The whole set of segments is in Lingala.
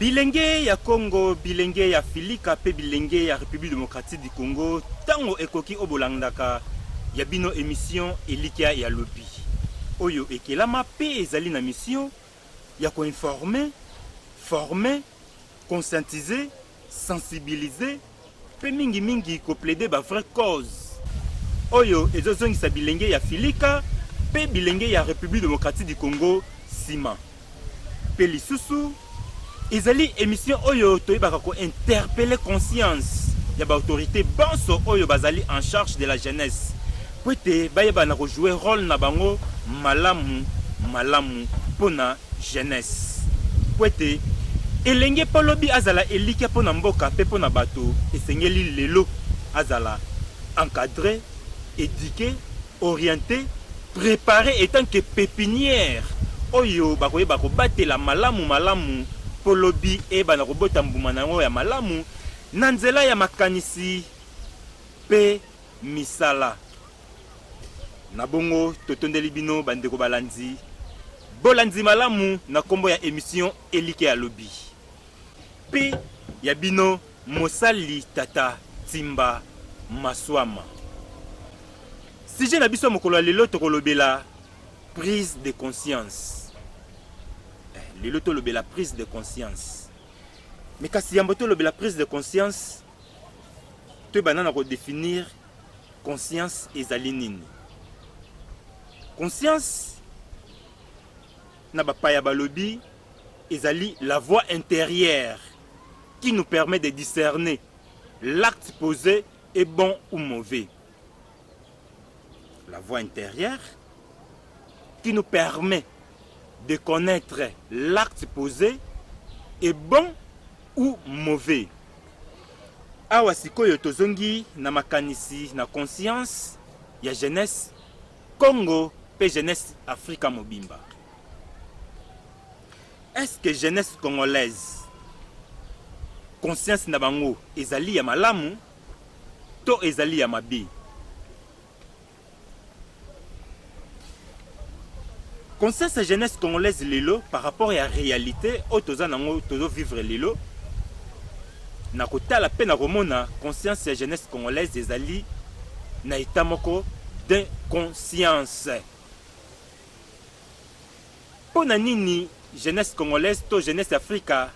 Bilenge ya Congo, bilenge ya Filika pe bilenge ya République démocratique du Congo, tango ekoki obolandaka ya bino émission Elikia ya lobi. Oyo ekelama pe ezali na mission ya ko informer, former conscientiser, sensibiliser pe mingi mingi ko plaider ba vraie cause oyo ezozongisa bilenge ya Filika pe bilenge ya Republique Democratique du Congo sima. Pe lisusu ezali emission oyo toyebaka ko interpeller conscience ya ba autorités banso oyo bazali en charge de la jeunesse Mpo ete bayeba na ko jouer role na bango malamu malamu mpo na jeunesse. Mpo ete elenge mpo lobi azala elikya mpo na mboka mpe mpo na bato, esengeli lelo azala encadrer, eduquer, orienter, preparer etant que pepinière oyo bakoyeba kobatela malamu malamu mpo lobi eyeba na kobota mbuma na yango ya malamu na nzela ya makanisi mpe misala. Na bongo totondeli bino bandeko balandi bolandi malamu na nkombo ya emission Elike ya lobi mpe ya bino mosali tata Timba Maswama. Sujet na biso ya mokolo ya lelo tokolobela prise de conscience. Eh, lelo tolobela prise de conscience. Mais kasi yambo tolobela prise de conscience To ebanda na ko definir conscience ezali nini. Conscience na bapaya balobi ezali la voix intérieure qui nous permet de discerner l'acte posé est bon ou mauvais. la voix intérieure qui nous permet de connaître l'acte posé est bon ou mauvais. Awa sikoyo tozongi na makanisi na conscience ya jeunesse Congo pe jeunesse Afrika mobimba. Est-ce que jeunesse congolaise conscience na bango ezali ya malamu to ezali ya mabe. Conscience ya jeunesse congolaise lelo par rapport ya réalité oyo toza nango tozo vivre lelo na kotala mpe na komona conscience ya jeunesse congolaise ezali na etat moko de conscience mpo na nini jeunesse congolaise to jeunesse afrika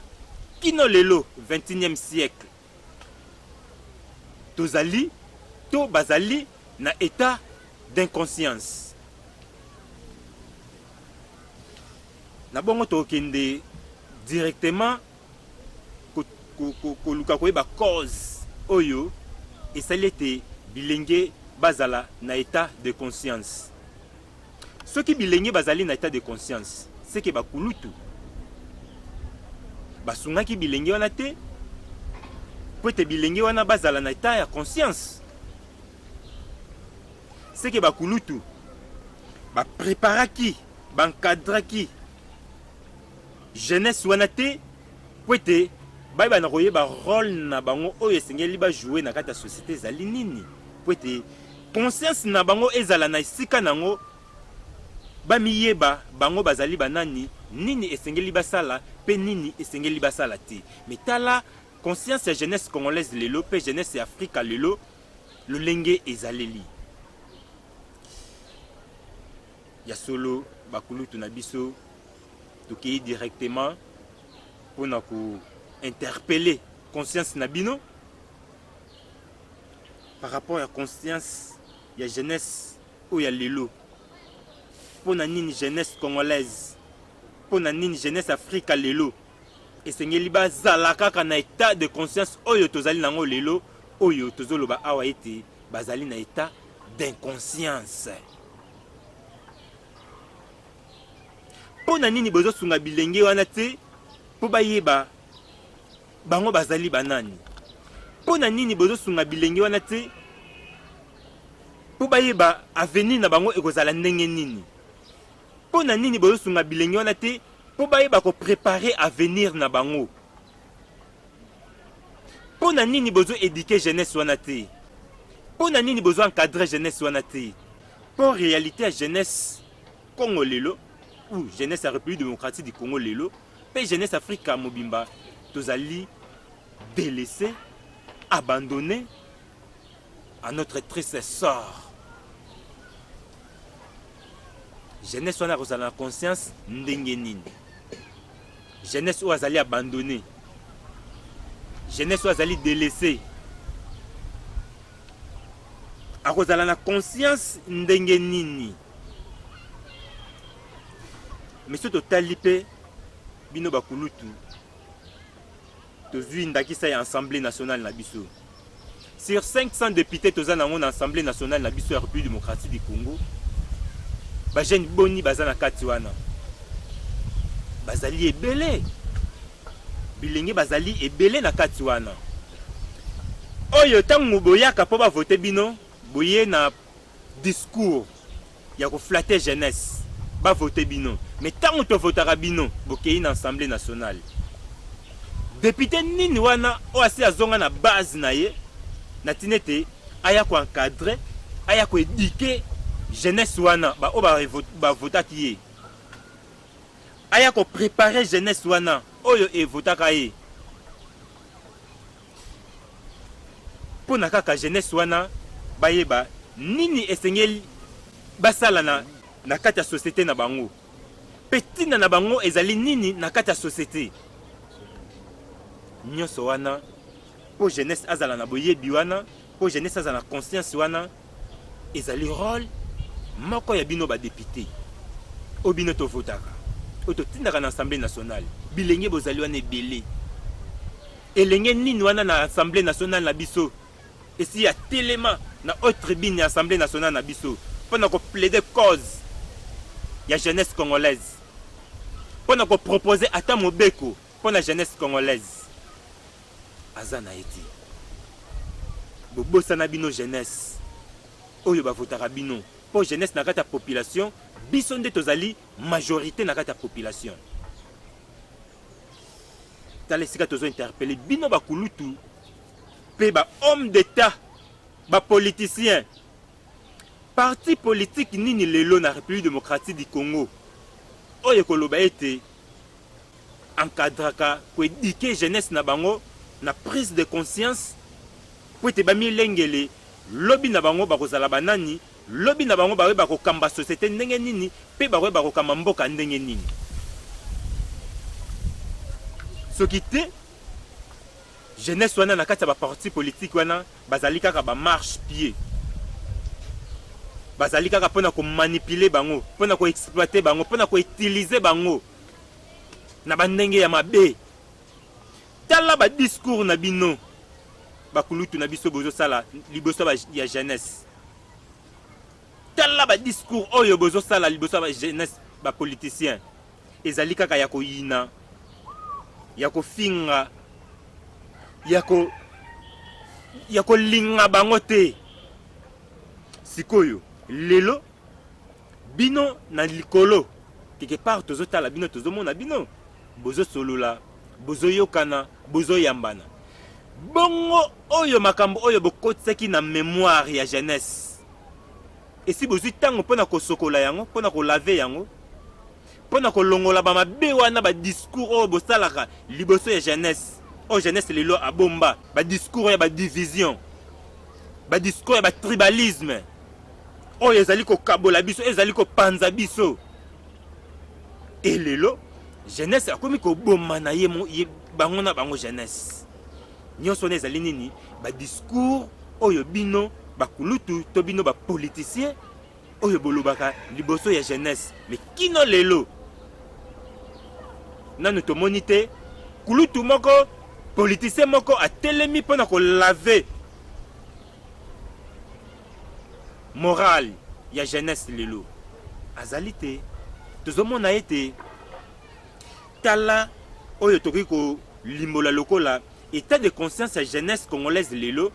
kino lelo 21e siècle Tozali to bazali na etat d'inconscience. Na bongo tokende directement koluka koyeba cause oyo esali ete bilenge bazala na etat de conscience. Soki bilenge bazali na etat de conscience, c'est que bakulutu basungaki bilenge wana te mpo ete bilenge wana bazala na etat ya conscience. C'est que bakulutu bapreparaki, bankadraki jeunesse wana te mpo ete bayeba na koyeba role na bango oyo esengeli bajoue na kati ya société ezali nini mpo ete Conscience na bango ezala na esika na yango, bamiyeba bango bazali banani, nini esengeli basala mpe nini esengeli basala te. Mais tala conscience ya jeunesse congolaise lelo mpe jeunesse ya Afrika lelo lolenge ezaleli. Ya solo bakulutu na biso tokei directement mpo na ko interpeller conscience na bino par rapport ya conscience ya jeunesse oyo ya lelo mpo na nini jeunesse congolaise mpo na nini jeunesse afrika lelo esengeli bazala kaka na etat de conscience oyo tozali nango lelo oyo tozoloba awa ete bazali na etat d'inconscience mpo na nini bozosunga bilenge wana te mpo bayeba Bango bazali banani? Mpo na nini bozosunga bilenge wana te mpo bayeba avenir na bango ekozala ndenge nini? Mpo na nini bozosunga bilenge wana te mpo bayeba koprepare avenir na bango? Mpo na nini bozo eduke jeunesse wana te? Mpo na nini bozo encadre jeunesse wana te? Mpo realite ya jeunesse Congo lelo ou jeunesse ya République démocratique du Congo lelo pe jeunesse Afrika mobimba tozali délaissé, abandonné à notre triste sort. Jeunesse wana akozala na conscience ndenge nini? Jeunesse oyo azali abandonné, jeunesse oyo azali délaissé akozala na conscience ndenge nini? miso totali mpe bino bakulutu tozwi ndakisa ya assemblée nationale na biso sur 500 députés toza nango na assemblée nationale na biso ya république démocratique du congo bajeune boni baza na kati wana bazali ebele bilenge bazali ebele na kati wana oyo ntango boyaka mpo bavote bino boye na discours ya ko flatter jeunesse ba voter bino mais tango to votaka bino bokeyi na assemblée nationale député nini wana oyo asi azonga na base na ye na tina ete aya ko encadrer aya ko éduquer jeunesse wana ba oyo ba votaki ye aya ko préparer jeunesse wana oyo evotaka ye mpo na kaka jeunesse wana bayeba nini esengeli basala na, na kati ya societe na bango mpe ntina na bango ezali nini na kati ya societe nyonso wana mpo jeunesse azala na boyebi wana mpo jeunesse azala na conscience wana ezali role moko ya bino badepute oyo bino tovotaka oyo totindaka na assemblée nationale bilenge bozali wana ebele elenge nini wana na assemblée nationale na biso esi ya telema na haute tribune ya assemblée nationale na biso mpo na koplaide cause ya jeunesse congolaise mpo na kopropose ata mobeko mpo na jeunesse congolaise aza na ye te bobosana bino jeunesse oyo bavotaka bino mpo jeunesse na kati ya population biso nde tozali majorité na kati ya population tala esika tozo interpele bino bakulutu mpe ba homme d'état bapoliticien parti politike nini lelo na république démocratique du congo oyo ekoloba ete encadraka ko eduquer jeunesse na bango na prise de conscience mpo ete bamilengele lobi na bango bakozala banani, lobi na bango bakoyeba kokamba societe ndenge nini mpe bakoyeba kokamba mboka ndenge nini. Soki te jeunesse wana na kati ya baparti politiki wana bazali kaka bamarche pied, bazali kaka mpo na komanipule bango, mpo na koexploite bango, mpo na koutilize bango na bandenge ya mabe tala ba discours na bino bakulutu na biso bozosala liboso ya jeunesse tala ba discours oyo bozosala liboso ya jeunesse bapoliticien ezali kaka ya koyina ya kofinga ya ko ya kolinga bango te sikoyo lelo Bino na likolo quelque part tozo tala bino tozo mona bino bozo solola bozo yokana bozo yambana bongo oyo makambo oyo bokotisaki na memoire ya jeunesse esi bozwi ntango mpo na kosokola yango mpo na kolave yango mpo na kolongola bamabe wana badiscours oyo bosalaka liboso ya jeunesse oyo jeunesse lelo abomba badiscours ya badivision badiscours ya batribalisme oyo ezali kokabola biso ezali kopanza biso e lelo jeunesse akomi koboma na ye bango na bango jeunesse nyonso wana ezali nini badiscours oyo bino bakulutu to bino bapoliticien oyo bolobaka liboso ya jeunesse me kino lelo nanu tomoni te kulutu moko politicien moko atelemi mpo na kolave Morale ya jeunesse lelo azali te, tozomona ete tala oyo tokoki kolimbola lokola état de conscience ya jeunesse congolaise lelo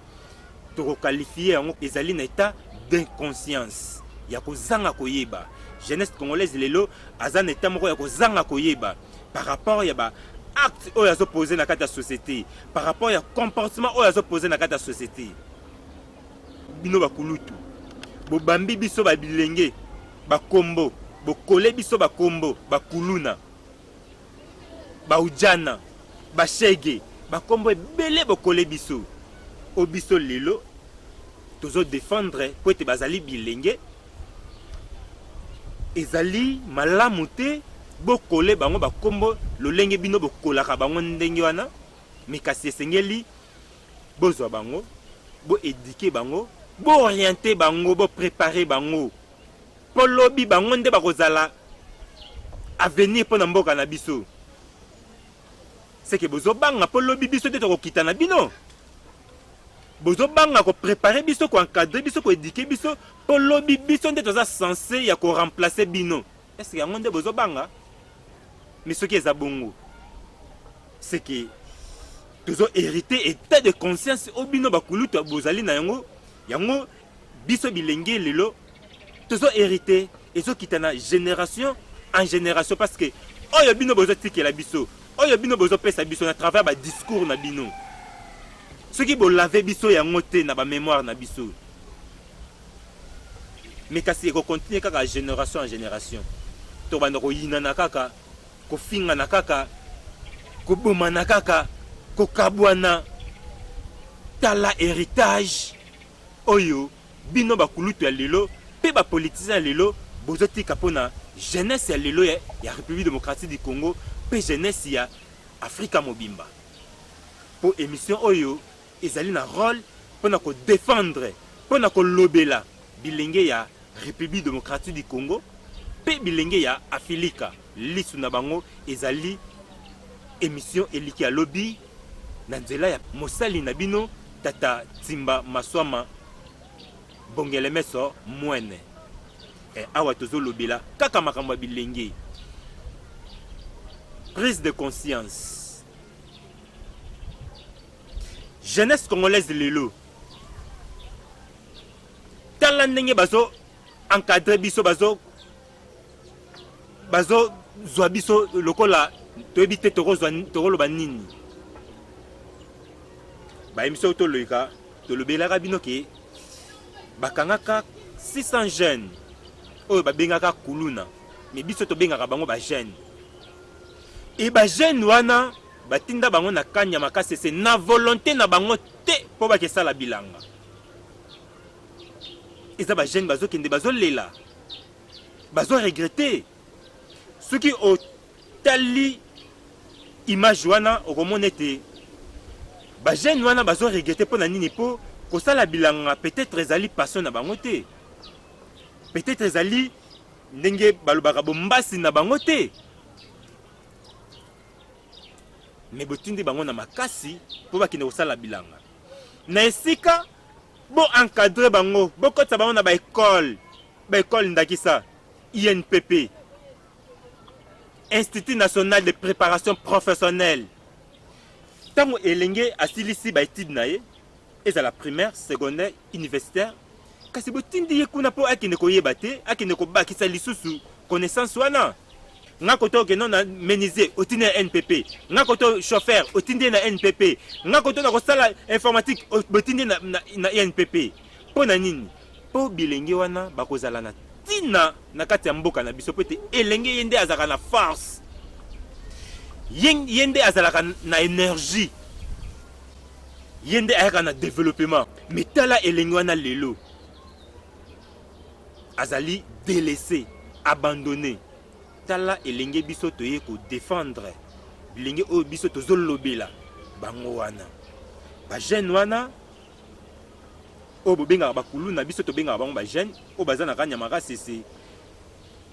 tokokalifie yango ezali na état d'inconscience ya kozanga koyeba jeunesse congolaise lelo aza na état moko ya kozanga koyeba par rapport ya ba acte oyo azopose na kati ya société par rapport ya comportement oyo azopose na kati ya société bino bakulutu bobambi biso babilenge bakombo bokole biso bakombo bakuluna baujana bashege bakombo ebele bokole biso o biso lelo tozodefendre mpo ete bazali bilenge ezali malamu te bokole bango bakombo lolenge bino bokolaka bango ndenge wana me kasi esengeli Bozwa bango, bo eduquer bango, bo orienter bango, bo preparer bango. Po lobi bango nde bakozala avenir pona mboka na biso. Seke bozo banga po lobi biso nde tokokita na bino. Bozo banga ko preparer biso, ko encadrer biso, ko eduquer biso po lobi biso nde toza sense ya ko remplacer bino. Est-ce que yango nde bozo banga? Mais soki eza bongo, c'est que tozo hériter état de conscience oyo bino bakulutu bozali na yango yango biso bilenge lelo tozo hériter ezokita na génération en génération parce que oyo bino bozotikela biso oyo bino bozopesa biso na travers badiscours na bino soki bolave biso yango te na bamémoire na biso mais kasi eko continuer kaka generation en generation tobanda koyinana kaka kofingana kaka kobomana kaka kokabwana tala héritage oyo bino bakulutu ya lelo mpe bapolitisien ya lelo bozotika mpo na jeunesse ya lelo ya, ya république démocratique du congo mpe jeunesse ya afrika mobimba mpo émission oyo ezali na role pona ko defendre pona kolobela bilenge ya Republique Democratique du Congo pe bilenge ya Afilika. Lisu na bango ezali emission eliki ya lobi na nzela ya mosali na bino tata Timba Maswama Bongelemeso Mwene. Eh, awa tozolobela kaka makambo ya bilenge prise de conscience jeunesse congolaise lelo tala ndenge bazo encadre biso bazo bazo zwa biso lokola toyebi te tokozwa tokoloba nini bayemisoko toloyika tolobelaka bino ke bakangaka 600 jeunes oyo babengaka kuluna me biso tobengaka bango bajeune e bajeune wana Batinda bango na kanya makasese na volonte na bango te mpo bakesala bilanga. Eza ba jeune bazokende bazolela bazo regrete soki otali image wana okomona ete bajeune wana bazo regrete mpo na nini mpo kosala bilanga peut-être ezali passion na bango te peut-être ezali ndenge balobaka bombasi na bango te me botindi bango na makasi mpo bakende kosala bilanga na esika bo encadre bango bokotisa bango na baekole baekole ndakisa inpp institut national de préparation professionnelle ntango elenge asilisi baetude na ye ezala primaire secondaire universitaire Kasi botindi ye kuna mpo akende koyeba te, akende kobakisa lisusu connaissance wana. Nga koto okende na menuisier otindi na NPP, nga koto chauffeur otindi na NPP, nga koto na kosala informatique botindi na, na, na NPP. Mpo na nini? Mpo bilenge wana bakozala na ntina na kati ya mboka na biso, mpo ete elenge ye nde azalaka na force, ye nde azalaka na energie, ye nde ayaka na developement. me tala elenge wana lelo azali delese abandonne tala elenge biso toye kodefendre bilenge oyo biso tozolobela bango wana bajeune wana oyo bobengaka bakulu na biso tobengaka bango bajeune oyo baza na kanyama kasese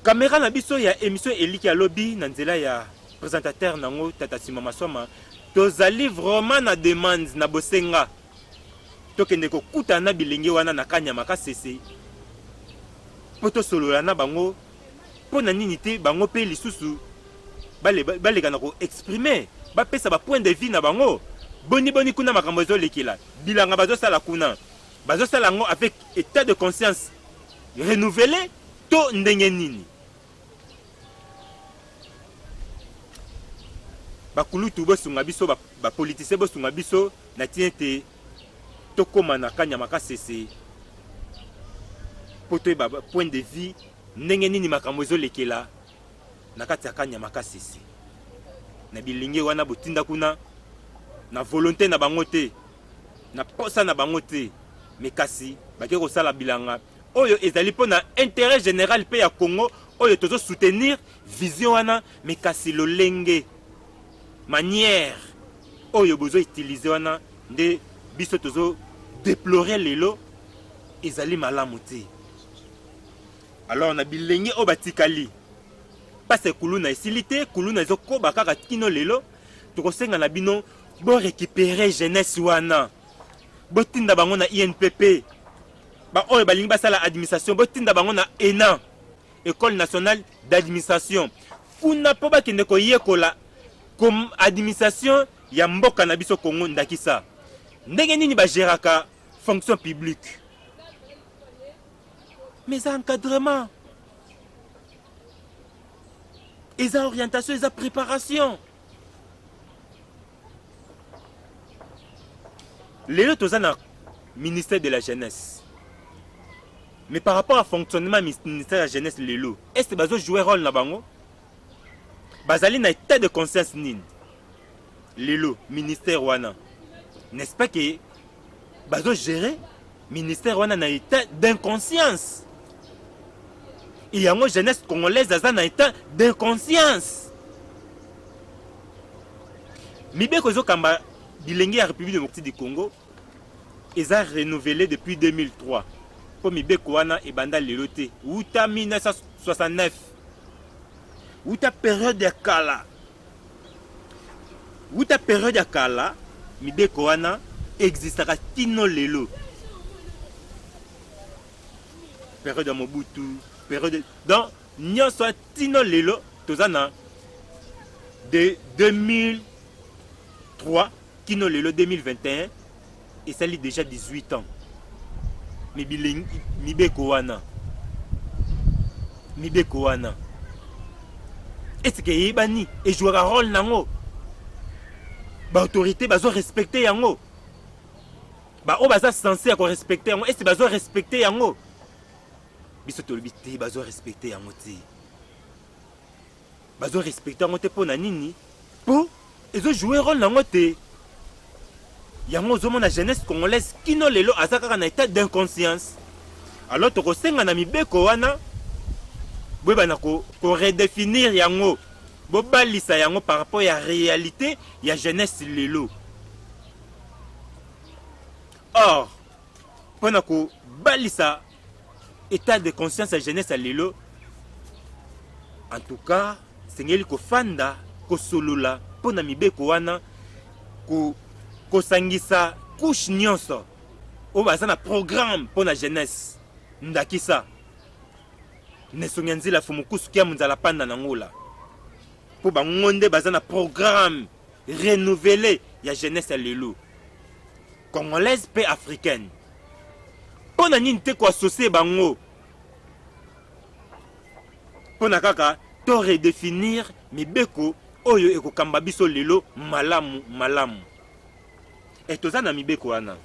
kamera na biso ya émission eliki ya lobi na nzela ya présentateur nango tata sima maswama tozali vraiment na demande na bosenga tokende kokutana na bilenge wana na kanyama kasese mpo tosolola na bango mpo na nini te bango mpe lisusu baleka na koexprime bapesa bapoint de vie na bango boni boni kuna makambo ezolekela bilanga bazosala kuna bazosala yango avec état de conscience renouvele to ndenge nini bakulutu bosunga biso bapolitisien ba bosunga biso na ntina ete tokóma na kanyama kasese mpo toyeba point de vue ndenge nini makambo ezolekela na kati ya kanyama kasese na bilinge wana botinda kuna na volonté na bango te na posa na bango te me kasi bakei kosala bilanga oyo ezali mpo na interet general mpe ya congo oyo tozo soutenir vision wana me kasi lolenge manière oyo bozo utilize wana nde biso tozo deplore lelo ezali malamu te alors na bilenge oyo batikali mpasa kuluna esili te kuluna ezokoba kaka kino lelo tokosenga na bino borekipere jeunesse wana botinda bango na inpp ba oyo balingi basala administration botinda bango na ena école nationale d'administration kuna mpo bakende koyekola administration ya mboka na biso congo ndakisa ndenge nini bageraka fonction publique mais eza encadrement eza orientation eza préparation lelo toza na ministère de la jeunesse mais par rapport à fonctionnement ministère ya jeunesse lelo est bazo jouer rôle na bango bazali na état de conscience nini lelo ministère wana n'est-ce pas que bazo gérer ministère wana na etat d'inconscience et yango jeunesse congolaise aza na etat d'inconscience mibeko ezokamba bilenge ya république démocratique du congo eza renouvelé depuis 2003 mpo mibeko wana ebanda lelo te wuta 1969 wuta periode ya kala Wuta periode ya kala mibeko wana existaka kino lelo. Periode ya Mobutu, periode donc nyonso ya tino lelo toza na de 2003 kino lelo 2021 esali deja 18 ans me bilengi mibeko wana mibeko wana estce eyebani ejouaka role nango baautorité bazo respecte yango baoyo baza sense ya korespecte yango estce bazo respecte yango biso tolobi te bazo respecte yango te bazo respecter yango te pona nini po ezo jouer role nango te yango ozomona jeunesse congolaise kino lelo aza kaka na etat d'inconscience alors tokosenga na mibeko wana boyebana koredefinir ko yango bobalisa yango par rapport ya réalité ya jeunesse lelo or mpo na kobalisa etat de conscience ya jeunesse ya lelo en tout cas esengeli kofanda kosolola mpo na mibeko wana ko, kosangisa couche nyonso oyo baza na programme mpo na jeunesse ndakisa nesongi ya nzela fumukusu kia monzala panda na ngola mpo bango nde baza na programme renouvele ya jeunesse ya lelo congolaise mpe africaine mpo na nini te koassocie bango mpo na kaka to redefinir mibeko oyo ekokamba biso lelo malamu malamu e toza na mibeko wana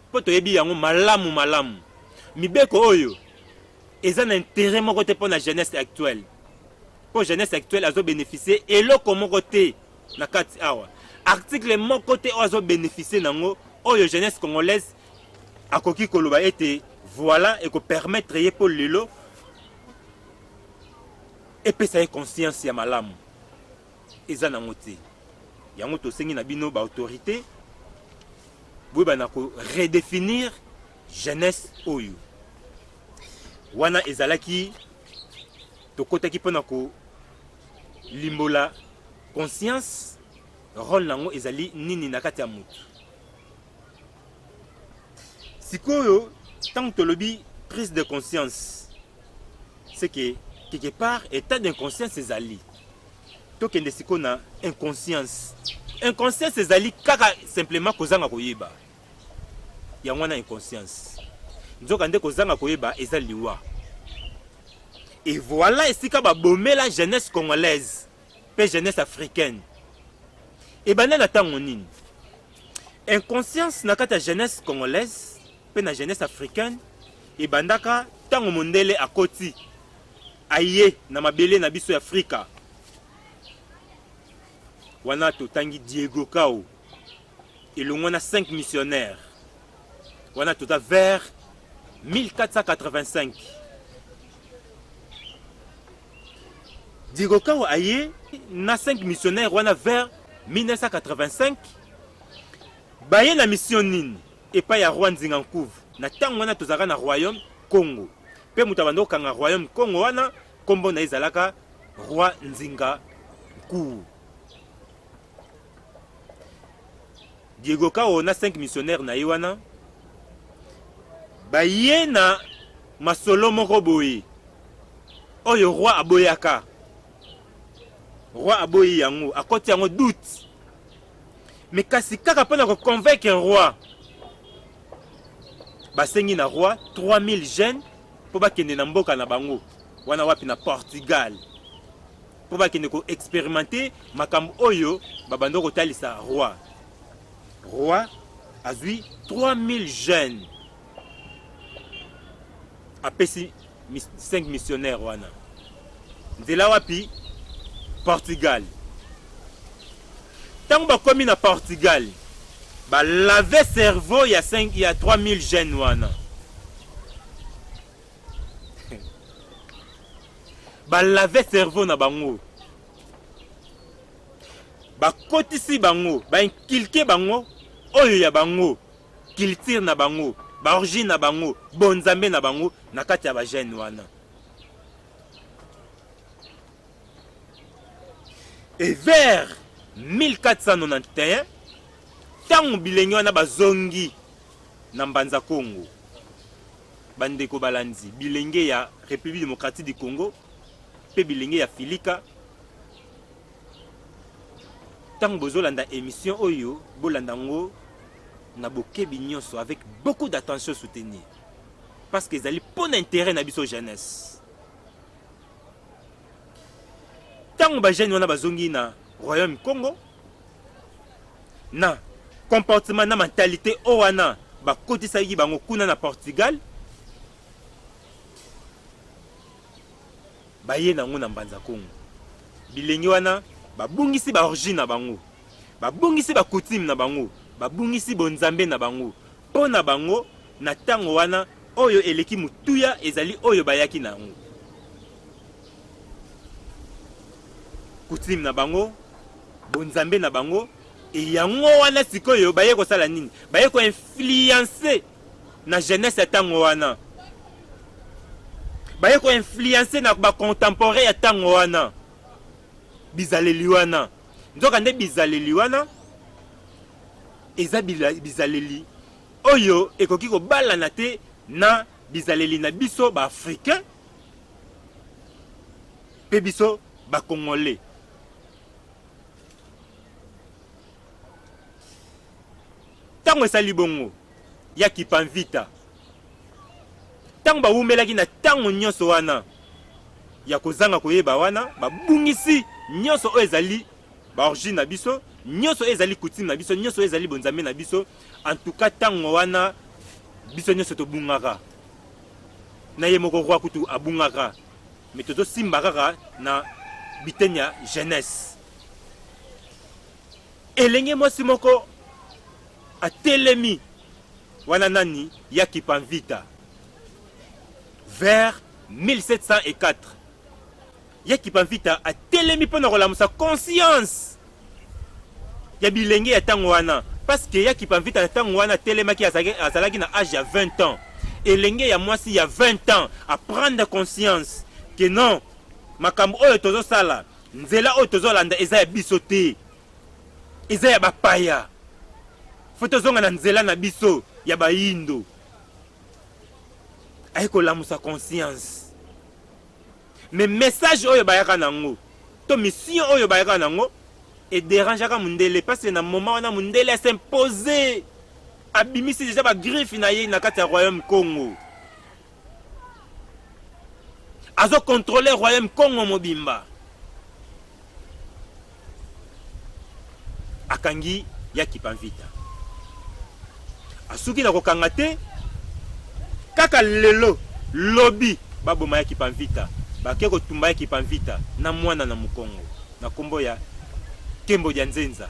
mpo toyebi yango malamu malamu mibeko oyo eza na intérêt moko te mpo na jeunesse actuelle mpo jeunesse actuelle azobénéficie eloko moko te na kati awa article moko te oyo azobeneficie nango oyo jeunesse congolaise akoki koloba ete voilà ekopermettre ye mpo lelo epesa ye conscience ya malamu eza nango te yango tosengi na bino baautorité boyeba na koredefinir jeunesse oyo wana ezalaki tokotaki mpo na kolimbola conscience role nango ezali nini na kati ya motu sikoyo ntango tolobi prise de conscience c'est que quelque part état d'inconscience ezali tokende sikoyo na inconscience inconscience ezali kaka simplement kozanga koyeba yango wana inconscience. Nzoka nde kozanga koyeba eza liwa. Et voilà esika babomela jeunesse congolaise mpe jeunesse africaine. Ebanda na ntango nini? Inconscience na kati ya jeunesse congolaise mpe na jeunesse africaine ebandaka ntango mondele akoti aye na mabele na biso ya Afrika. Wana totangi Diego Kao elongo na 5 missionnaires wana toza vers 1485 digokawa aye na 5 missionnaires wana vers 1985 baye na mission nini epai ya roi nzinga nkuvu na ntango wana tozalaka na royaume congo mpe moto abanda kokanga royaume congo wana nkombo na ye ezalaka roi nzinga nkuvu Diego Kao na 5 missionnaires na ye wana baye na masolo moko boye oyo roi aboyaka roi aboyi yango akoti yango doute me kasi kaka mpo na koconvaincre roi basengi na roi 3000 jeunes mpo bakende na mboka na bango wana wapi na portugal mpo bakende ko experimente makambo oyo babanda kotalisa roi roi azwi 3000 jeunes apesi 5 missionnaire wana nzela wapi portugal ntango bakomi na portugal balave cerveau ya, 5, ya 3000 jeunes wana balave cerveau na bango bakotisi bango bainkilke bango oyo ya bango kiltire na bango baorigine na bango bonzambe na bango na kati ya bagene wana e vers 1491 ntango bilenge wana bazongi na mbanza kongo Bandeko balandi, bilenge ya Republique Democratique du Congo mpe bilenge ya Filika, ntango bozolanda emission oyo bolanda yango na bokebi nyonso avec beaucoup d'attention soutenir parce que ezali mpo na intérêt na biso jeunesse ntango bajene wana bazongi na royaume congo na comportement na mentalite oyo wana bakotisaki bango kuna na portugal baye nango na mbanza congo bilenge wana babungisi baorigine na bango babungisi bacoutume na bango babungisi bonzambe na bango mpo na bango na ntango wana oyo eleki motuya ezali oyo bayaki na yango coutume na bango bonzambe na bango e yango wana sikoyo baye kosala nini baye koinfluence na jeunesse ya ntango wana baye koinfluence na bacontemporain ya ntango wana bizaleli wana nzoka nde bizaleli wana eza bizaleli oyo ekoki kobalana te na bizaleli na biso baafricain mpe biso bakongole ntango esali bongo ya kipanvita ntango bawumelaki na ntango nyonso wana ya kozanga koyeba wana babungisi nyonso oyo ezali baorigine na biso nyonso oyo ezali kutime na biso nyonso oyo ezali bonzambe na biso antuka ntango wana biso nyonso tobungaka na ye moko roi kutu abungaka mais tozo simba kaka na biteni ya jeunesse elenge mwasi moko atelemi wana nani ya kipanvita vers 1704 ya Kipamfita atelemi mpo na kolamusa conscience ya bilenge ya ntango wana parce que ya Kipamfita na ntango wana atelemaki azalaki na age ya 20 ans elenge ya mwasi ya 20 ans aprendre conscience que non makambo oyo tozosala nzela oyo tozolanda eza ya biso te eza ya bapaya fo tozonga na nzela na biso ya bayindo aye kolamusa conscience Mais message oyo bayaka nango to mission oyo bayaka nango et dérangeaka mundele parce que na moment wana mundele a s'imposer abimisi déjà ba griffe na ye na kati ya royaume Congo azo contrôler royaume Congo mobimba akangi ya Kipanvita asuki na kokanga te kaka lelo lobi baboma ya Kipanvita bake kotumba ya Kipanvita na mwana na mokongo na kombo ya Kembo dia Nzenza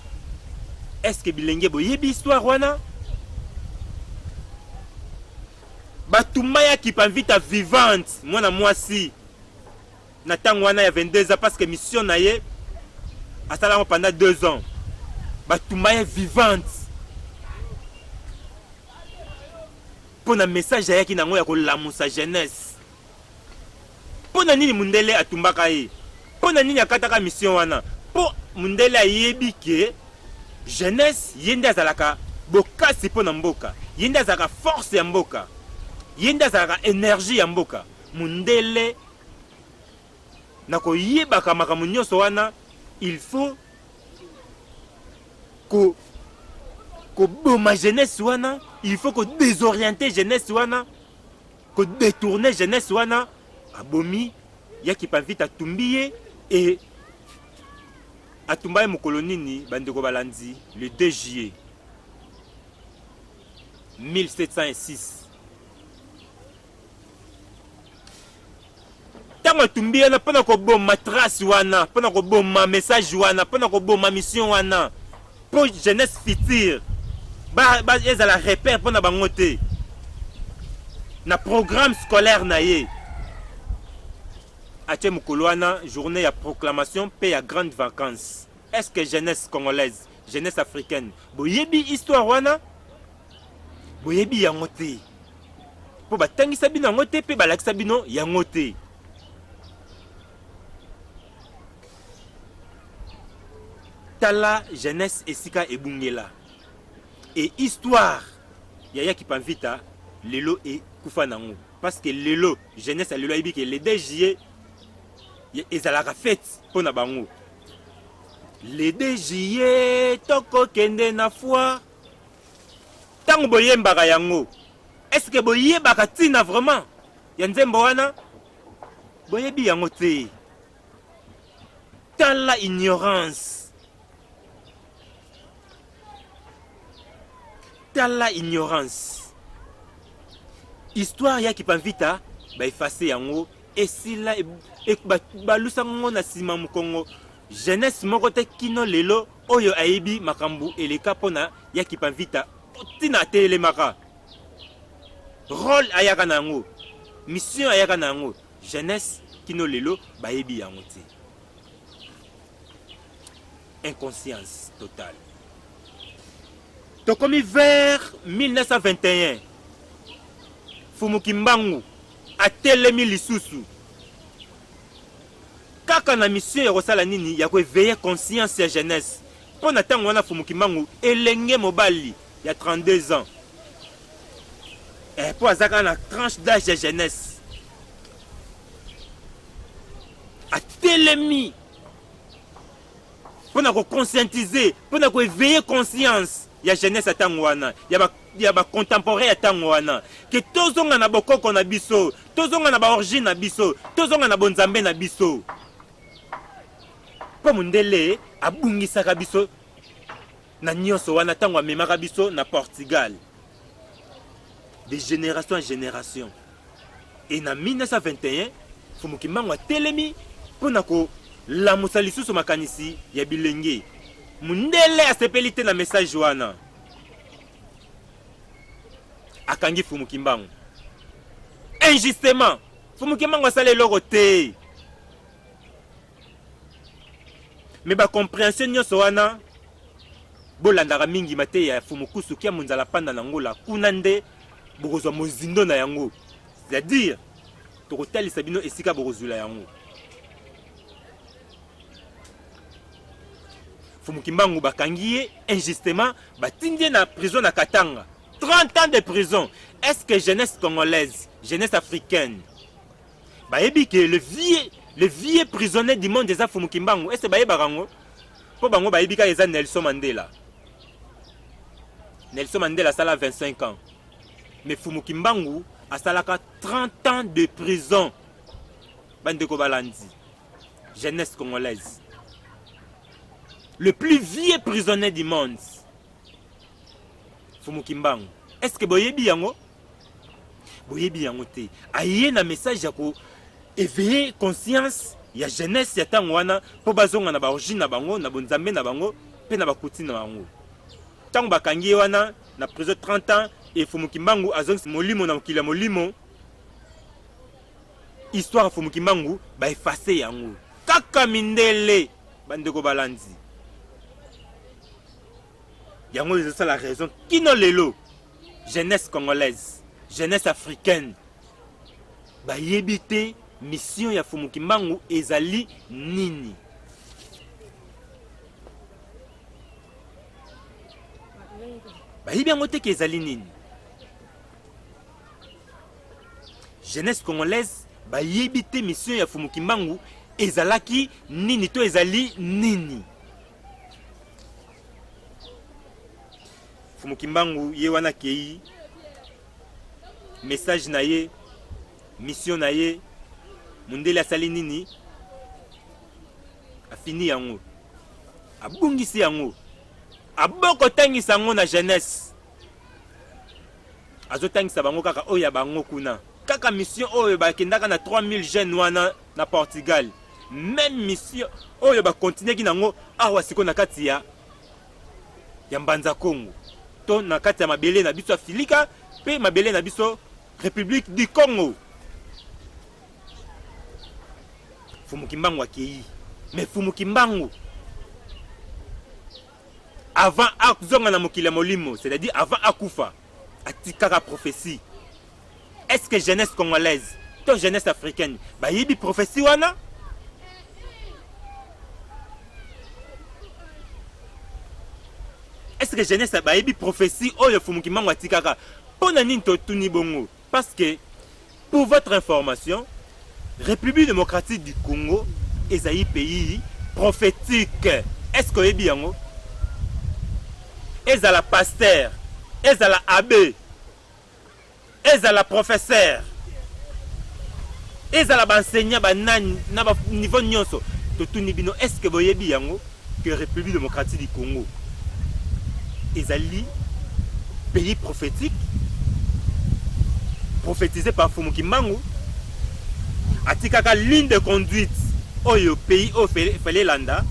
est-ce que bilenge boyebi histoire wana batumba ya Kipanvita vivante mwana mwasi na tango wana ya 22 ans parce que mission na ye asala yango pendant 2 ans batumba ye vivante mpo na message ayaki na yango ya kolamusa jeunesse mpo na nini mundele atumbaka ye mpo na nini akataka mission wana mpo mundele ayebi ke jeunesse ye nde azalaka bokasi mpo na mboka ye nde azalaka force ya mboka ye nde azalaka energie ya mboka mundele Na koyebaka makambo nyonso wana, il faut ko koboma jeunesse wana, il faut ko désorienter jeunesse wana, ko détourner jeunesse wana. Abomi ya Kipavita atumbi ye et atumba ye mokolo nini bandeko balandi le 2 juillet 1706 ntango atumbi ye na mpo na koboma trace wana mpo na koboma message wana mpo na koboma mission wana mpo jeunesse future ezala repère mpo na bango te na programme scolaire na ye atie mokolo wana journée ya proclamation mpe ya grande vacance est ce que jeunesse congolaise jeunesse africaine boyebi histoire wana boyebi yango te mpo batangisa bino yango te mpe balakisa bino yango te tala jeunesse esika ebungela e histoire ya yaki pamvita lelo ekufa nango parce que lelo jeunesse ya lelo ayebi ke le 2 juillet ezalaka fete mpo na bango le 2 juillet tokokende na foire Tango boyembaka yango, est-ce que boyebaka tina vraiment ya nzembo wana? Boyebi yango te. Tala ignorance. Tala ignorance. Histoire ya Kipanvita ba effacer yango esila balusa ngo na sima mukongo jeunesse moko te kino lelo Oyo ayebi makambo eleka mpo na Yaki Panvita ntina atelemaka, role ayaka na yango, mission ayaka na yango, jeunesse kino lelo bayebi yango te. Inconscience totale. Tokomi vers 1921 Fumu Kimbangu atelemi lisusu Kaka na mission ya kosala nini? Ya ko eveiller conscience ya jeunesse. Mpo na tango wana Mfumu Kimbangu elenge mobali ya 32 ans. Eh, mpo aza kaka na tranche d'age ya jeunesse. Atelemi mpo na ko conscientiser, mpo na ko eveiller conscience ya jeunesse ya ntango wana ya ba ya bacontemporain ya ntango wana ke tozonga na bokoko na biso tozonga na baorigine na biso tozonga na bonzambe na biso mpo mondele abungisaka biso na nyonso wana ntango amemaka biso na portugal de génération en génération Et na 1921, Mfumu Kimbangu atelemi mpo na kolamusa lisusu makanisi ya bilenge. Mundele asepeli te na message wana, akangi Mfumu Kimbangu injustement. Mfumu Kimbangu asala eloko te. me ba comprehension nyonso wana bolandaka mingi mateya ya fumukusu kia monzala panda na ngola kuna nde bokozwa mozindo na yango c'est-à-dire tokotalisa bino esika bokozwila yango fumukimbangu bakangi ye injustement batindi ye na prison na katanga 30 ans de prison est ce que jeunesse congolaise jeunesse africaine bayebi ke le vieux le vieux prisonnier du monde eza fumu kimbangu ese bayebaka yango mpo bango bayebi kaka eza nelson mandela nelson mandela asala 25 ans mais fumu kimbangu asalaka 30 ans de prison bandeko balandi jeunesse congolaise le plus vieux prisonnier du monde fumu kimbangu est ce que boyebi yango boyebi yango te aye na message ya ko éveiller conscience ya jeunesse ya ntango wana mpo bazonga na baorigine na bango na bonzambe na bango mpe na bakuti na bango ntango bakangi ye wana na prison 30 ans efumu kimbangu azongisi molimo na mokili ya molimo histoire ya fumu kimbangu baefase yango kaka mindele bandeko balandi yango ezosala raison kino lelo jeunesse congolaise jeunesse africaine bayebi te mission ya fumu kimbangu ezali nini bayebi yango te ke ezali nini jeunesse congolaise bayebi te mission ya fumu kimbangu ezalaki nini to ezali nini Mfumu Kimbangu ye wana kei message na ye mission na ye mundele asali nini afini yango abungisi yango aboko tangisa yango na jeunesse azotangisa bango kaka oyo ya bango kuna kaka mission oyo bakendaka na 3000 jeunes wana na Portugal meme mission oyo ba continuaki nango awa siko na kati ya ya mbanza Congo to na kati ya mabele na biso Afilika pe mabele na biso Republique du Congo Fumu Kimbangu akei mais Fumu Kimbangu avant azonga na mokili ya molimo c'est-à-dire avant akufa atikaka prophetie est ce que jeunesse congolaise to jeunesse africaine bayebi prophetie wana est ce que jeunesse bayebi prophetie oyo fumuki mango atikaka mpo na nini totuni bongo Parce que pour votre information, République démocratique du Congo est un pays prophétique. Est-ce que oyebi yango? Ezala pasteur, ezala abbé, ezala professeur, ezala ba enseignant ba nani na ba niveau nyonso totuni bino est-ce que boyebi yango? que Republique Democratique du Congo ezali pays prophétique prophétisé par Fumu Kimbangu atikaka ligne de conduite oyo pays oyo fele elanda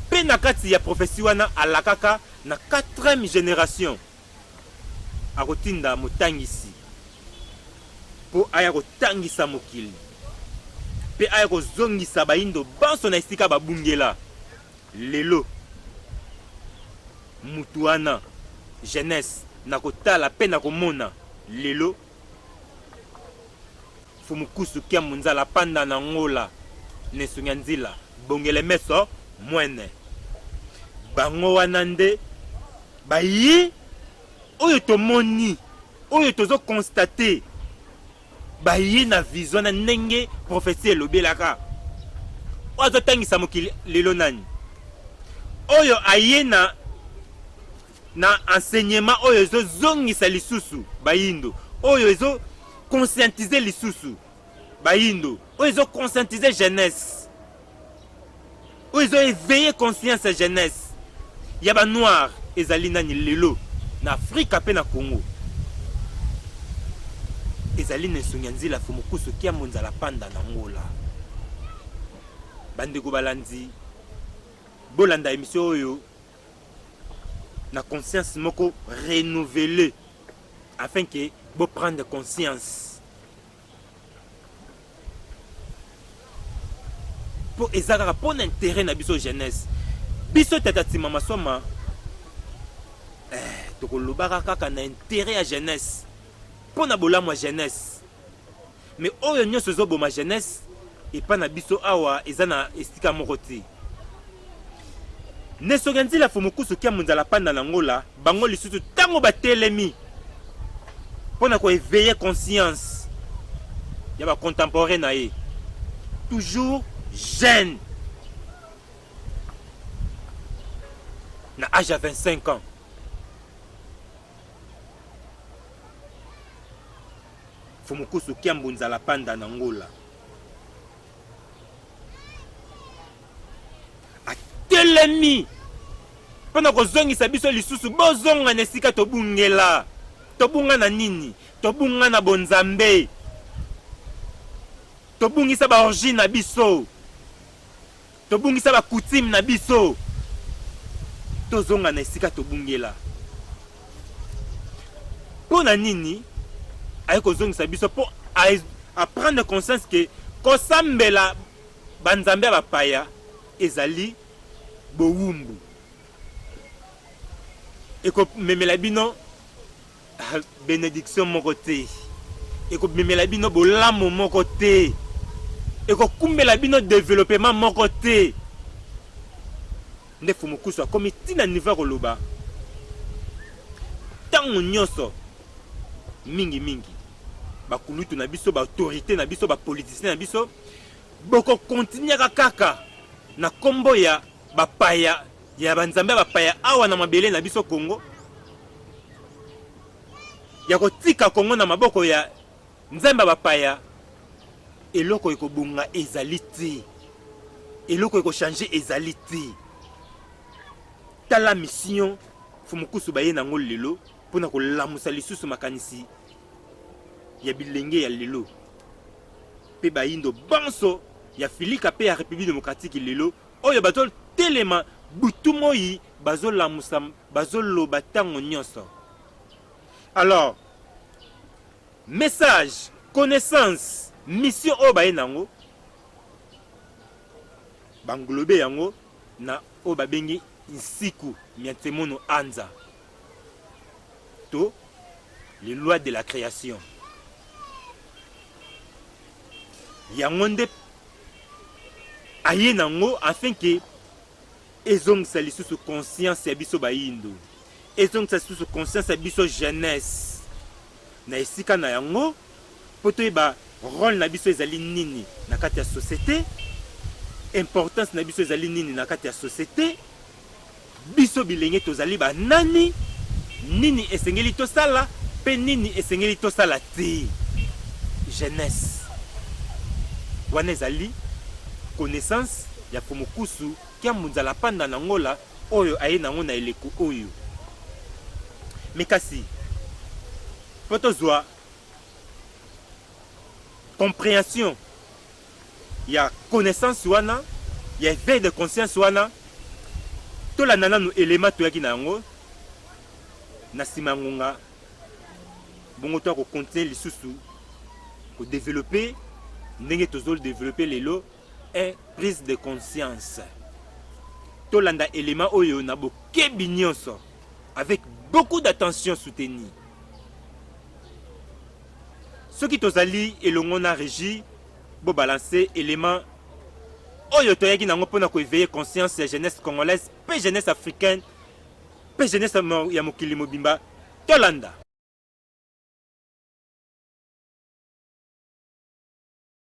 mpe na kati ya prophétie wana alakaka na 4e génération akotinda motangisi mpo aya kotangisa mokili mpe aya kozongisa bayindo banso na esika babungela lelo mutu wana jeunesse na kotala mpe na komona lelo Mfumu Kusu Kia Munzala Panda na Ngola ne Sunya Nzila Bongele Meso Mwene Bango wana nde baye oyo tomoni oyo tozo constate baye na vision na ndenge prophetie elobelaka oyo azotangisa mokili lelo nani oyo aye na na enseignement oyo ezo zongisa lisusu bayindo oyo ezo conscientiser lisusu bayindo oyo ezo conscientiser jeunesse oyo ezo éveiller conscience ya jeunesse ya ba noir ezali nani lelo na afrika mpe na congo ezali na esongi ya nzila fomokusu kiambo nzala panda na ngola bandeko balandi bolanda emisio oyo na conscience moko renouveler afin que bo prendre conscience mpo eza kaka mpo na intérêt na biso jeunesse biso tata nsima masoma eh, tokolobaka kaka na intérêt ya jeunesse mpo na bolamu ya jeunesse Mais oyo nyoso ezo boma jeunesse epa na biso awa eza na esika moko te. Nesoge nzila fumukusu kia munzala panda na ngola bango lisusu tango batelemi pona ko eveiller conscience ya ba contemporain na ye toujours jeune na age ya 25 ans Fumukusu Kiambu Nzala Panda na Ngola. Atelemi mpo na kozongisa biso lisusu, bozonga na esika tobungela. Tobunga na nini? Tobunga na bonzambe, tobungisa baorigine na biso. Tobungisa ba coutume na biso. Tozonga na esika tobungela. Mpo na nini aye kozongisa biso mpo a prendre conscience que kosambela banzambe ya bapaya ezali bowumbu ekomemela bino benediction moko te ekobimela bino bolamu moko te ekokumbela bino developement moko te nde fumukusu akomi ti na niveau ya koloba ntango nyonso mingimingi bakulutu na biso baautorité na biso bapolitisien na biso bokokontinyaka kaka na nkombo ya bapaya ya ba nzambe ya bapaya awa na mabele na biso Congo ya kotika Congo na maboko ya nzambe ya bapaya eloko ekobonga ezali te eloko ekochange ezali te tala mission fumukusu baye nango lelo mpo na kolamusa lisusu makanisi ya bilenge ya lelo mpe bayindo banso ya filika mpe ya république démocratique lelo oyo bazo telema butu moyi bazo lamusa bazo loba tango nyonso alors message connaissance mission oyo baye nango banglobe yango na oyo babengi nsiku mya nsemono anza to les lois de la création yango nde aye na yango afin que ezongisa lisusu conscience ya biso bayindo ezongisa lisusu conscience ya biso jeunesse na esika na yango mpo toyeba role na biso ezali nini na kati ya société importance na biso ezali nini na kati ya société Biso bilenge tozali ba nani? Nini esengeli tosala pe nini esengeli tosala te? Jeunesse. Wana ezali connaissance ya Fumukusu Kiambu Nzala Panda na Angola oyo aye na yango na eleko oyo. Mais kasi po tozwa comprehension ya connaissance wana ya eveil de conscience wana tolanda nanu elema toyaki na yango na nsima ya ngonga bongo to akokontinue lisusu kodevelope ndenge tozodevelope lelo e prise de conscience tolanda elema oyo na bokebi nyonso avec beaucoup d'attention soutenue Soki tozali elongo na Regi, bo balancer element oyo toyaki nango mpo na ko eveiller conscience ya jeunesse congolaise mpe jeunesse africaine mpe jeunesse ya mokili mobimba. Tolanda.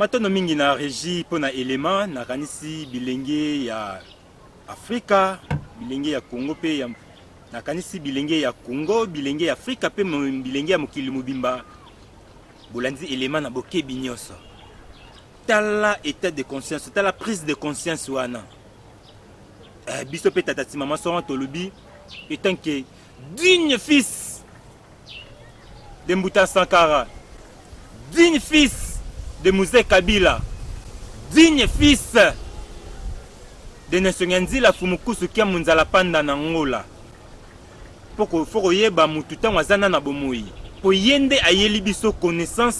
Matondo mingi na regie mpo na elema nakanisi bilenge ya Afrika, bilenge ya Congo mpe ya nakanisi bilenge ya Congo, bilenge ya Afrika mpe bilenge ya mokili mobimba bolandi elema na bokebi nyonso. Tala etat de conscience, tala prise de conscience wana eh, biso mpe tata ti mama soki tolobi etant que digne fils de Mbuta Sankara, digne fils de Mzee Kabila, digne fils de Nelson Nyanzila Fumukusu Kia Munzala Panda na Angola. Poko foko yeba mutu tango azana na bomoyi. Po yende ayeli biso connaissance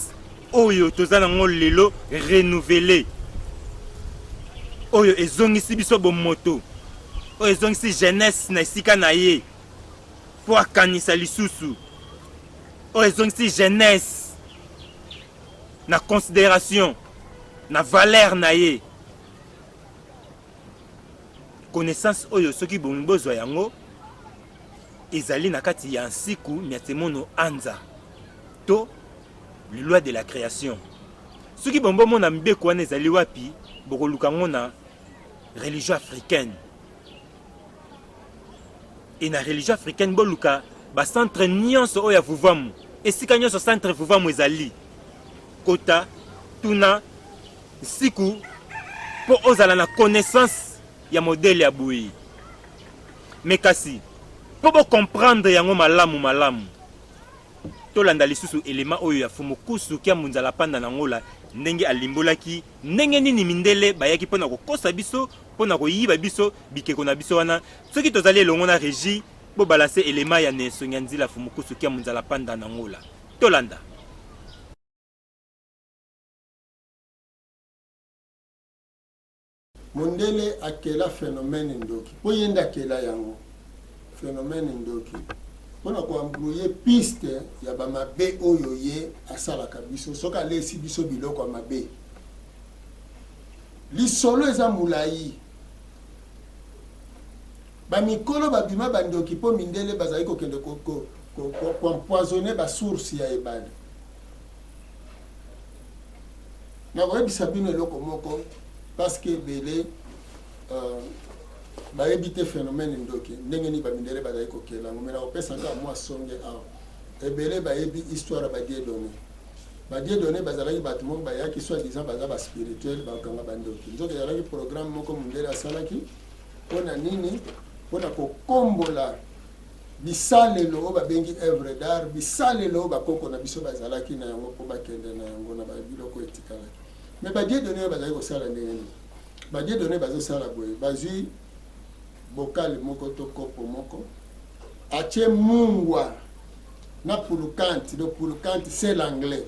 oyo toza na ngo lelo renouveler. Oyo ezongisi biso bomoto. Oyo ezongisi jeunesse na esika na ye. mpo akanisa lisusu oyo ezongisi jeunesse na consideration na valeur na ye connaissance oyo soki bolingi bozwa yango ezali na kati ya nsiku miatemono anza to le loi de la création soki bongo bomona mibeko wana ezali wapi bokoluka yango na religion africaine Et na religion africaine boluka ba centre nyonso oyo ya vuvamu esika nyonso centre vuvamu ezali kota tuna nsiku mpo ozala na connaissance ya modele ya boye me kasi mpo bocomprendre yango malamu malamu tolanda lisusu elema oyo ya fumukusu kia munzala panda na ngola ndenge alimbolaki ndenge nini mindele bayaki mpo na kokosa biso mpo na koyiba biso bikeko na biso wana soki tozali elongo na regi bobalanse elema ya nensongi ya nzila fumukusu kia munzala panda na ngola tolanda mondele akela phénomène ndoki mpo ye nde akela yango phénomène ndoki mpo na koambrouye piste ya bamabe oyo ye asalaka biso soki alesi biso biloko ya mabe Lisolo eza mulayi. Ba mikolo ba bima ba ndoki po mindele bazali kokende ko, ko, ko, ko, ko empoisonner ba source ya ebale. Nakoyebisa bino eloko moko parce que ebele euh, bayebi te phénomène ndoki ndenge nini bamindele bazali kokela yango me nakopesa kaka mwa songe awa ebele bayebi histoire ya badie donne Ba Dieudonne bazalaki bato moko bayaki soit disant baza ba spirituel bakanga bandoki, nzoka ezalaki programme moko mundele asalaki mpo na nini? Mpo na kokombola bisalelo oyo babengi œuvre d'art, bisalelo oyo bakoko na biso bazalaki na yango mpo bakende na yango na biloko etikalaki. Mais ba Dieudonne oyo bazali kosala ndenge nini? Ba Dieudonne bazosala boye, bazwi bokali moko to kopo moko atie mungwa na pulukante donc pulukante c'est l'anglais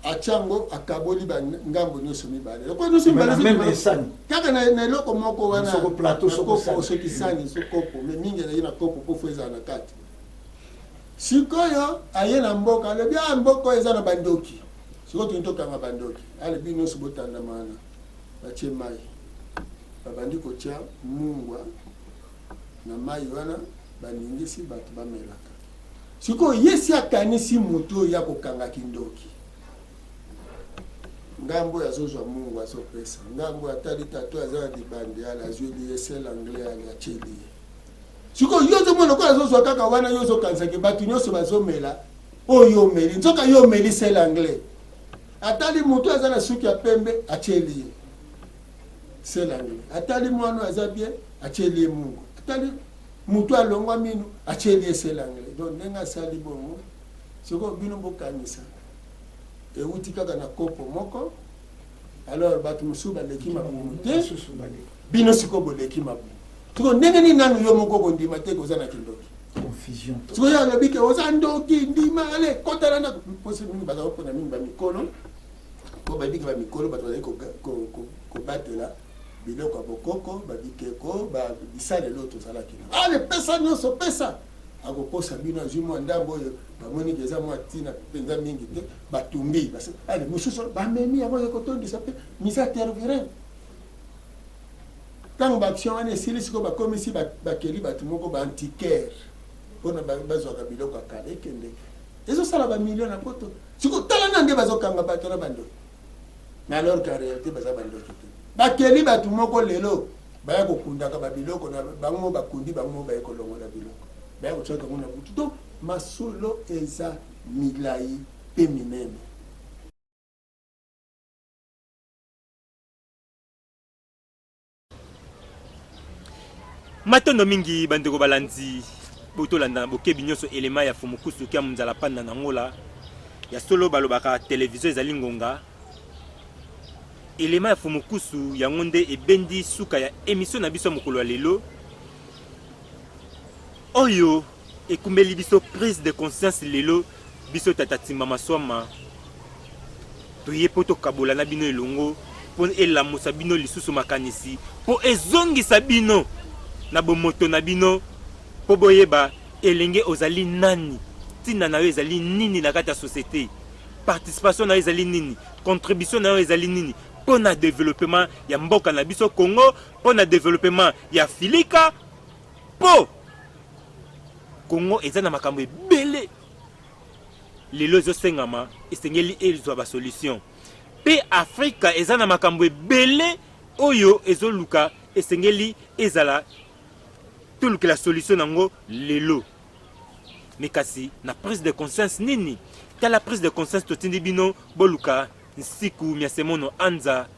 atya yango akaboli bangambo nyonso mibale lokola nyonso mibalesani kaka na eloko moko wanasoki sani so kopo me mingi ezali na kopo mpo fo ezala na kati sikoyo aye na mboka alobi a ah, mboka oyo eza na bandoki sikoyo toni tokanga bandoki alobi ah, nyonso botandama wana batie mai babandi kotya mungwa na mai wana baningisi bato bamelaka. Sikoyo Yesu akanisi moto oyo ya kokanga kindoki, ngambo oyo azozwa mungu azopesa, ngambo oyo atali tato aza na libandi ala azweli ye sel anglais ali atyeli ye. Sikoyo yo ozomona lokola azozwa kaka wana, yo ozokanisaki bato nyonso bazomela oyo omeli, nzoka yo omeli sel anglais. Atali moto aza na suki ya pembe atyeli ye Selangele atali mwana aza bien atieli ye mungu atali mutu alongwa minu atieli ye selangele donc ndenge asali bongo sikoyo bino bokanisa euti kaka na kopo moko alors bato mosusu baleki mabumu te bino sikoyo boleki mabumu sikoyo ndenge nini nanu yo moko kondima te koza na kindoki sikoyo yo alobi ke oza ndoki ndima ale kotala ndako mposi mingi bazakopona mingi bamikolo Mpo bayebi ke ba mikolo bato bazali kobatela biloko ya bokoko, ba bikeko, ba bisalelo oyo tozalaki na. Ale pesa nyonso, pesa! akokosa bino azwi mwa ndambo oyo bamoni ke eza mwa ntina mpenza mingi te batumbi ale mosusu bamemi yango ekotondisa mpe misa tervirin ntango baaction wana esili sikoyo bakomisi bakeli bato moko baantiquaire mpona bazwaka biloko ya kala ekende ezo sala ba millions na poto siko tala na nde bazo kanga bato na bando mais alors qu'en réalité baza bandoki te bakeli bato moko lelo baya kokundaka babiloko na bango mo bakundi bango mo baye kolongola biloko baya kotyaka yango na butu donc masolo eza milai mpe minene matondo mingi bandeko balandi botolanda na bokebi nyonso elema ya fumukusu kia monzala panda na ngola ya solo balobaka televizio ezali ngonga elema ya fumukusu yango nde ebendi suka ya emisio na biso ya mokolo ya lelo oyo Ekumeli biso prise de conscience lelo biso tata timba maswama toye mpo tokabola na bino elongo mpo elamusa bino lisusu makanisi mpo ezongisa bino na bomoto na bino mpo boyeba elenge ozali nani ntina na yo ezali nini na kati ya societe participation na yo ezali nini contribution na yo ezali nini mpo na developema ya mboka na biso congo mpo na developema ya filika Po Congo eza na makambo ebele lelo ezosengama esengeli ezwa ba solution pe Afrika eza na makambo ebele oyo ezoluka esengeli ezala tolukela solution nango lelo me kasi na prise de conscience nini tala prise de conscience totindi bino boluka nsiku mya semono anza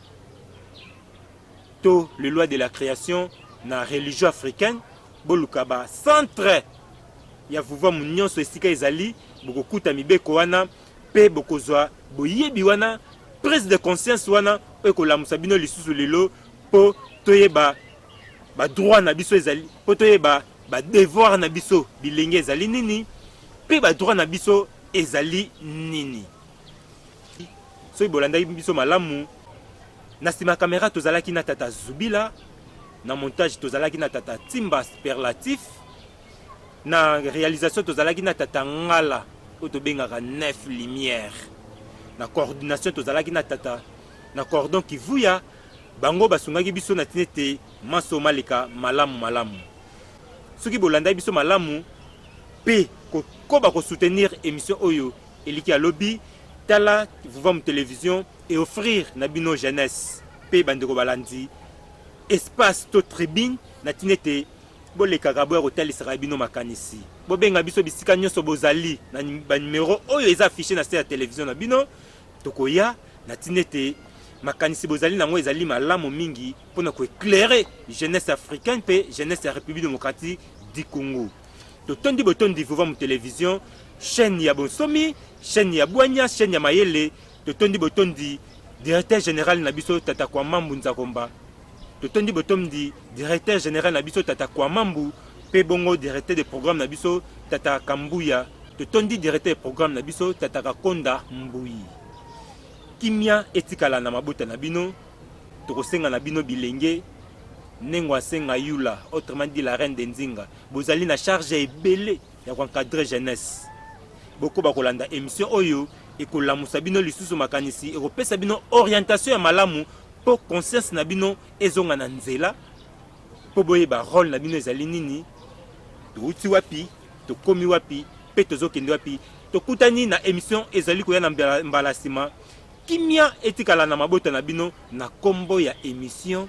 to le loi de la creation na religion africaine boluka ba centre ya vuvamu nyonso esika ezali bokokuta mibeko wana mpe bokozwa boyebi wana prise de conscience wana oyo ekolamusa bino lisusu lelo mpo toyeba badroit na biso ezali mpo toyeba badevoir na biso bilenge ezali nini mpe badroit na biso ezali nini soki bolandaki biso malamu Na sima ya camera tozalaki na tata Zubila, na montage tozalaki na tata Timba Superlatif, na realisation tozalaki na tata Ngala oyo tobengaka Neuf Lumière, na coordination tozalaki na tata na cordon Kivuya, bango basungaki biso na tinete maso maleka malamu malamu. Soki bolandaki biso malamu pe kokoba ko soutenir emission oyo eliki ya lobi, tala Vuvamu Television e offrir na bino jeunesse pe bandeko balandi espace to tribune na tina ete bolekaka boya kotalisaka bino makanisi bobenga biso bisika nyonso bozali na banimero oyo eza affiche na se ya televizio na bino tokoya na ntina ete makanisi bozali na yango ezali malamu mingi mpo na koeclaire jeunesse africaine mpe jeunesse ya république démocratique du congo totondi botondi vova mu télévision chaîne ya bonsomi chaîne ya bwanya chaîne ya mayele totondi botondi directeur general na biso tata kwamambu nzakomba totondi botondi directeur general na biso tata kwamambu mpe bongo directeur de programme na biso tata kambuya totondi directeur de programme na biso tata kakonda mbuyi kimia etikala na mabota na bino tokosenga na bino bilenge nengo asenga yula autrement dit la reine de nzinga bozali na charge ebele ya ko encadrer jeunesse. Bokoba kolanda emission oyo ekolamusa bino lisusu makanisi, ekopesa bino orientation ya malamu mpo conscience na bino ezonga na nzela, mpo boyeba role na bino ezali nini, touti wapi, tokomi wapi mpe tozokende wapi. Tokutani na emission ezali koya na mbala nsima. Kimia etikala na mabota na bino na kombo ya emission